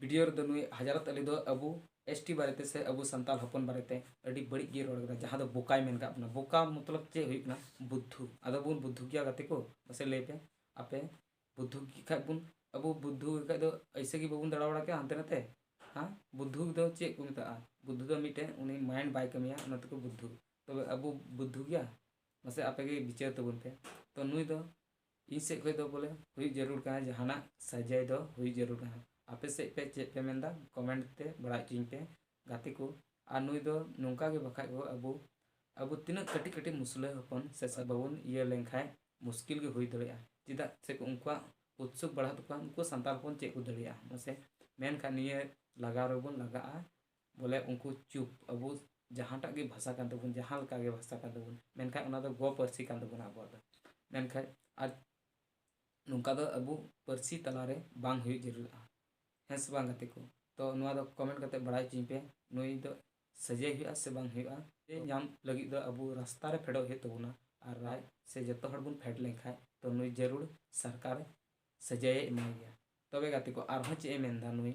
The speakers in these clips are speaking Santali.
ᱵᱤᱰᱤᱭᱳ ᱨᱮᱫᱚ ᱱᱩᱭ ᱦᱟᱡᱟᱨᱟᱛ ᱟᱞᱤ ᱫᱚ ᱟᱵᱚ ᱮᱥᱴᱤ ᱵᱟᱨᱮᱛᱮ ᱥᱮ ᱟᱵᱚ ᱥᱟᱱᱛᱟᱞ ᱦᱚᱯᱚᱱ ᱵᱟᱨᱮᱛᱮ ᱟᱹᱰᱤ ᱵᱟᱹᱲᱤᱡ ᱜᱮᱭ ᱨᱚᱲ ᱠᱟᱫᱟ ᱡᱟᱦᱟᱸ ᱫᱚ ᱵᱚᱠᱟᱭ ᱢᱮᱱ ᱠᱟᱜ ᱵᱚᱱᱟ ᱵᱚᱠᱟ ᱢᱚᱛᱞᱚᱵ ᱪᱮᱫ ᱦᱩᱭᱩᱜ ᱠᱟᱱᱟ ᱵᱩᱫᱽᱫᱷᱩ ᱟᱫᱚ ᱵᱚᱱ ᱵᱩᱫᱽᱫᱷᱩ ᱜᱮᱭᱟ ᱜᱟᱛᱮ ᱠᱚ ᱢᱟᱥᱮ ᱞᱟᱹᱭ ᱯᱮ ᱟᱯᱮ ᱵᱩᱫᱽᱫᱷᱩ ᱜᱮ ᱠᱷᱟᱡ ᱵᱚᱱ ᱟᱵᱚ ᱵᱩᱫᱽᱫᱷᱩ ᱜᱮ ᱠᱷᱟᱡ ᱫᱚ ᱮᱭᱥᱮ ᱜᱮ ᱵᱟᱵᱚᱱ ᱫᱟᱬᱟ ᱵᱟᱲᱟ ᱠᱮᱭᱟ ᱦᱟᱱᱛᱮ ᱱᱟᱛᱮ ᱦᱮᱸ ᱵᱩᱫᱽᱫᱷᱩ ᱫᱚ ᱪᱮᱫ ᱠᱚ ᱢᱮᱛᱟᱜᱼᱟ ᱵᱩᱫᱽᱫᱷᱩ ᱫᱚ ᱢᱤᱫᱴᱮᱱ ᱩᱱᱤ ᱢᱟᱭᱤᱱᱰ ᱵᱟᱭ ᱠᱟᱹᱢᱤᱭᱟ ᱚᱱᱟ ᱛᱮᱠᱚ ᱵᱩᱫᱽᱫᱷᱩ ᱛᱚᱵᱮ ᱟᱵᱚ ᱵᱩᱫᱽᱫᱷᱩ ᱜᱮᱭᱟ ᱢᱟᱥᱮ ᱟᱯᱮ ᱜᱮ ᱵᱤᱪᱟᱹᱨ ᱛᱟᱵᱚᱱ ᱯᱮ ᱛᱚ ᱱᱩᱭ ᱫᱚ ᱤᱧ ᱥᱮᱫ ᱠᱷᱚᱡ ᱫᱚ ᱵᱚᱞᱮ ᱦᱩᱭᱩᱜ ᱡᱟᱹᱨᱩᱲ ᱠᱟᱱᱟ ᱡᱟᱦᱟᱱᱟᱜ ᱥᱟᱨᱡᱟᱭ ᱫᱚ ᱦᱩᱭᱩᱜ ᱡᱟᱹᱨᱩᱲ ᱠᱟᱱᱟ ᱟᱯᱮ ᱥᱮᱫ ᱯᱮ ᱪᱮᱫ ᱯᱮ ᱢᱮᱱ ᱮᱫᱟ ᱠᱚᱢᱮᱱᱴ ᱛᱮ ᱵᱟᱲᱟᱭ ᱚᱪᱚᱧ ᱯᱮ ᱜᱟᱛᱮ ᱠᱚ ᱟᱨ ᱱᱩᱭ ᱫᱚ ᱱᱚᱝᱠᱟ ᱜᱮ ᱵᱟᱠᱷᱟᱡ ᱫᱚ ᱟᱵᱚ ᱟᱵᱚ ᱛᱤᱱᱟᱹᱜ ᱠᱟᱹᱴᱤᱡ ᱠᱟᱹᱴᱤᱡ ᱢᱩᱥᱞᱟᱹ ᱦᱚᱯᱚᱱ ᱥᱮ ᱵᱟᱵᱚᱱ ᱤᱭᱟᱹ ᱞᱮᱱ ᱠᱷᱟᱡ ᱢᱩᱥᱠᱤᱞ ᱜᱮ ᱦᱩᱭ ᱫᱟᱲᱮᱭᱟᱜᱼᱟ ᱪᱮᱫᱟᱜ ᱥᱮ ᱩᱱᱠᱩᱣᱟᱜ ᱩᱛᱥᱩᱠ ᱵᱟᱲᱦᱟᱜ ᱛᱟᱠᱚᱣᱟ ᱩᱱᱠᱩ ᱥᱟᱱᱛᱟᱲ ᱦᱚᱯᱚᱱ ᱪᱮᱫ ᱠᱚ ᱫᱟᱲᱮᱭᱟᱜᱼᱟ ᱢᱟᱥᱮ ᱢᱮᱱᱠᱷᱟᱡ ᱱᱤᱭᱟᱹ ᱞᱟᱜᱟᱣ ᱨᱮᱵᱚᱱ ᱞᱟᱜᱟᱜᱼᱟ ᱵᱚᱞᱮ ᱩᱱᱠᱩ ᱪᱩᱯ ᱟᱵᱚ ᱡᱟᱦᱟᱸᱴᱟᱜ ᱜᱮ ᱵᱷᱟᱥᱟ ᱠᱟᱱ ᱛᱟᱵᱚᱱ ᱡᱟᱦᱟᱸ ᱞᱮᱠᱟ ᱜᱮ ᱵᱷᱟᱥᱟ ᱠᱟᱱ ᱛᱟᱵᱚᱱ ᱢᱮᱱᱠᱷᱟᱱ ᱚᱱᱟ ᱫᱚ ᱜᱚ ᱯᱟᱹᱨᱥᱤ ᱠᱟᱱ ᱛᱟᱵᱚᱱᱟ ᱟᱵᱚᱣᱟᱜ ᱫᱚ ᱢᱮᱱᱠᱷᱟᱱ ᱟᱨ ᱱᱚᱝᱠᱟ ᱫᱚ ᱟᱵᱚ ᱯᱟᱹᱨᱥᱤ ᱛᱟᱞᱟ ᱨᱮ ᱵᱟᱝ ᱦᱩᱭᱩᱜ ᱡᱟᱹᱨᱩᱲᱚᱜᱼᱟ ᱦᱮᱸ ᱥᱮ ᱵᱟᱝ ᱜᱟᱛᱮ ᱠᱚ ᱛᱚ ᱱᱚᱣᱟ ᱫᱚ ᱠᱚᱢᱮᱱᱴ ᱠᱟᱛᱮ ᱵᱟᱲᱟᱭ ᱦᱚᱪᱚᱧ ᱯᱮ ᱱᱩᱭ ᱫᱚ ᱥᱟᱹᱡᱟᱹᱭ ᱦᱩᱭᱩᱜᱼᱟ ᱥᱮ ᱵᱟᱝ ᱦᱩᱭᱩᱜᱼᱟ ᱥᱟᱹᱡᱟᱹᱭ ᱧᱟᱢ ᱞᱟᱹᱜᱤᱫ ᱫᱚ ᱟᱵᱚ ᱨᱟᱥᱛᱟ ᱨᱮ ᱯᱷᱮᱰᱚᱜ ᱦᱩᱭᱩᱜ ᱛᱟᱵᱚᱱᱟ ᱟᱨ ᱨᱟᱡᱽ ᱥᱮ ᱡᱚᱛᱚ ᱦᱚᱲ ᱵᱚᱱ ᱯᱷᱮᱰ ᱞᱮᱱᱠᱷᱟᱱ ᱛᱚ ᱱᱩᱭ ᱡᱟᱹᱨᱩᱲ ᱥᱚᱨᱠᱟᱨ ᱥᱟᱹᱡᱟᱹᱭᱮ ᱮᱢᱟᱭ ᱜᱮᱭᱟ ᱛᱚᱵᱮ ᱜᱟᱛᱮ ᱠᱚ ᱟᱨᱦᱚᱸ ᱪᱮᱫ ᱮ ᱢᱮᱱᱫᱟ ᱱᱩᱭ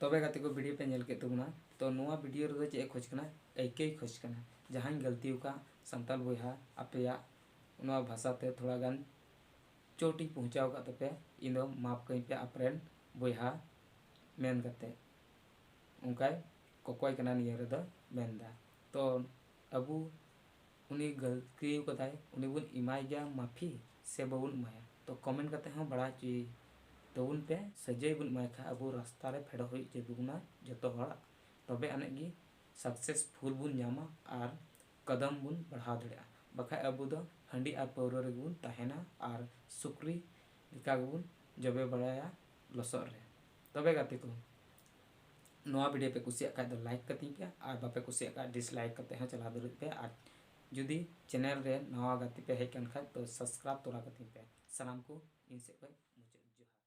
ᱛᱚᱵᱮ ᱜᱟᱛᱮ ᱠᱚ ᱵᱷᱤᱰᱤᱭᱳ ᱯᱮ ᱧᱮᱞ ᱠᱮᱫ ᱛᱟᱵᱚᱱᱟ ᱛᱚ ᱱᱚᱣᱟ ᱵᱷᱤᱰᱤᱭᱳ ᱨᱮᱫᱚ ᱪᱮᱫ ᱮ ᱠᱷᱚᱡᱽ ᱠᱟᱱᱟ ᱟᱹᱭᱠᱟᱹᱭ ᱠᱷᱚᱡᱽ ᱠᱟᱱᱟ ᱡᱟᱦᱟᱸᱧ ᱜᱟᱹᱞᱛᱤ ᱟᱠᱟᱫ ᱥᱟᱱᱛᱟᱞ ᱵᱚᱭᱦᱟ ᱟᱯᱮᱭᱟᱜ ᱱᱚᱣᱟ ᱵᱷᱟᱥᱟ ᱛᱮ ᱛᱷᱚᱲᱟ ᱜᱟᱱ ᱪᱳᱴᱤᱧ ᱯᱚᱦᱪᱟᱣ ᱟᱠᱟᱫ ᱛᱟᱯᱮ ᱤᱧ ᱫᱚ ᱢᱟᱯ ᱠᱟᱹᱧ ᱯᱮ ᱟᱯᱨᱮᱱ ᱵᱚᱭᱦᱟ ᱢᱮᱱ ᱠᱟᱛᱮ ᱚᱱᱠᱟᱭ ᱠᱚᱠᱚᱭ ᱠᱟᱱᱟ ᱱᱤᱭᱟᱹ ᱨᱮᱫᱚ ᱢᱮᱱᱫᱟ ᱛᱚ ᱟᱵᱚ ᱩᱱᱤ ᱜᱟᱹᱞᱛᱤ ᱟᱠᱟᱫᱟᱭ ᱩᱱᱤ ᱵᱚᱱ ᱮᱢᱟᱭ ᱜᱮᱭᱟ ᱢᱟᱯᱷᱤ ᱥᱮ ᱵᱟᱵᱚᱱ ᱮᱢᱟᱭᱟ ᱛᱚ ᱠᱚᱢᱮᱱᱴ ᱠᱟᱛᱮ ᱦᱚᱸ ᱵᱟᱲᱟᱭ ᱦᱚᱪᱚᱭ ᱛᱟᱵᱚᱱ ᱯᱮ ᱥᱟᱹᱡᱟᱹᱭ ᱵᱚᱱ ᱮᱢᱟᱭ ᱠᱷᱟᱱ ᱟᱵᱚ ᱨᱟᱥᱛᱟ ᱨᱮ ᱯᱷᱮᱰᱚᱜ ᱦᱩᱭᱩᱜ ᱛᱟᱵᱚᱱᱟ ᱡᱚᱛᱚ ᱦᱚᱲᱟᱜ ᱛᱚᱵᱮ ᱟᱹᱱᱤᱡ ᱜᱮ ᱥᱟᱠᱥᱮᱥᱯᱷᱩᱞ ᱵᱚᱱ ᱧᱟᱢᱟ ᱟᱨ ᱠᱚᱫᱚᱢ ᱵᱚᱱ ᱵᱟᱲᱦᱟᱣ ᱫᱟᱲᱮᱭᱟᱜᱼᱟ ᱵᱟᱠᱷᱟᱡ ᱟᱵᱚ ᱫᱚ ᱦᱟᱺᱰᱤ ᱟᱨ ᱯᱟᱹᱣᱨᱟᱹ ᱨᱮᱜᱮ ᱵᱚᱱ ᱛᱟᱦᱮᱱᱟ ᱟᱨ ᱥᱩᱠᱨᱤ ᱞᱮᱠᱟ ᱜᱮᱵᱚᱱ ᱡᱚᱵᱮ ᱵᱟᱲᱟᱭᱟ ᱞᱚᱥᱚᱫ ᱨᱮ ᱛᱚᱵᱮ ᱜᱟᱛᱮ ᱠᱚ ᱱᱚᱣᱟ ᱵᱷᱤᱰᱤᱭᱳ ᱯᱮ ᱠᱩᱥᱤᱭᱟᱜ ᱠᱷᱟᱡ ᱫᱚ ᱞᱟᱭᱤᱠ ᱠᱟᱹᱛᱤᱧ ᱯᱮ ᱟᱨ ᱵᱟᱯᱮ ᱠᱩᱥᱤᱭᱟᱜ ᱠᱷᱟᱡ ᱰᱤᱥᱞᱟᱭᱤᱠ ᱠᱟᱛᱮ ᱦᱚᱸ ᱪᱟᱞᱟᱣ ᱫᱟᱲᱮᱜ ᱯᱮ ᱟᱨ ᱡᱩᱫᱤ ᱪᱮᱱᱮᱞ ᱨᱮ ᱱᱟᱣᱟ ᱜᱟᱛᱮ ᱯᱮ ᱦᱮᱡ ᱠᱟᱱ ᱠᱷᱟᱡ ᱛᱚ ᱥᱟᱵᱥᱠᱨᱟᱭᱤᱵ ᱛᱚᱨᱟ ᱠᱟᱹᱛᱤᱧ ᱯᱮ ᱥᱟᱱᱟᱢ ᱠᱚ ᱤᱧ ᱥᱮᱫ ᱠᱷᱚᱡ ᱢᱩᱪᱟᱹᱫ ᱡᱚᱦᱟᱨ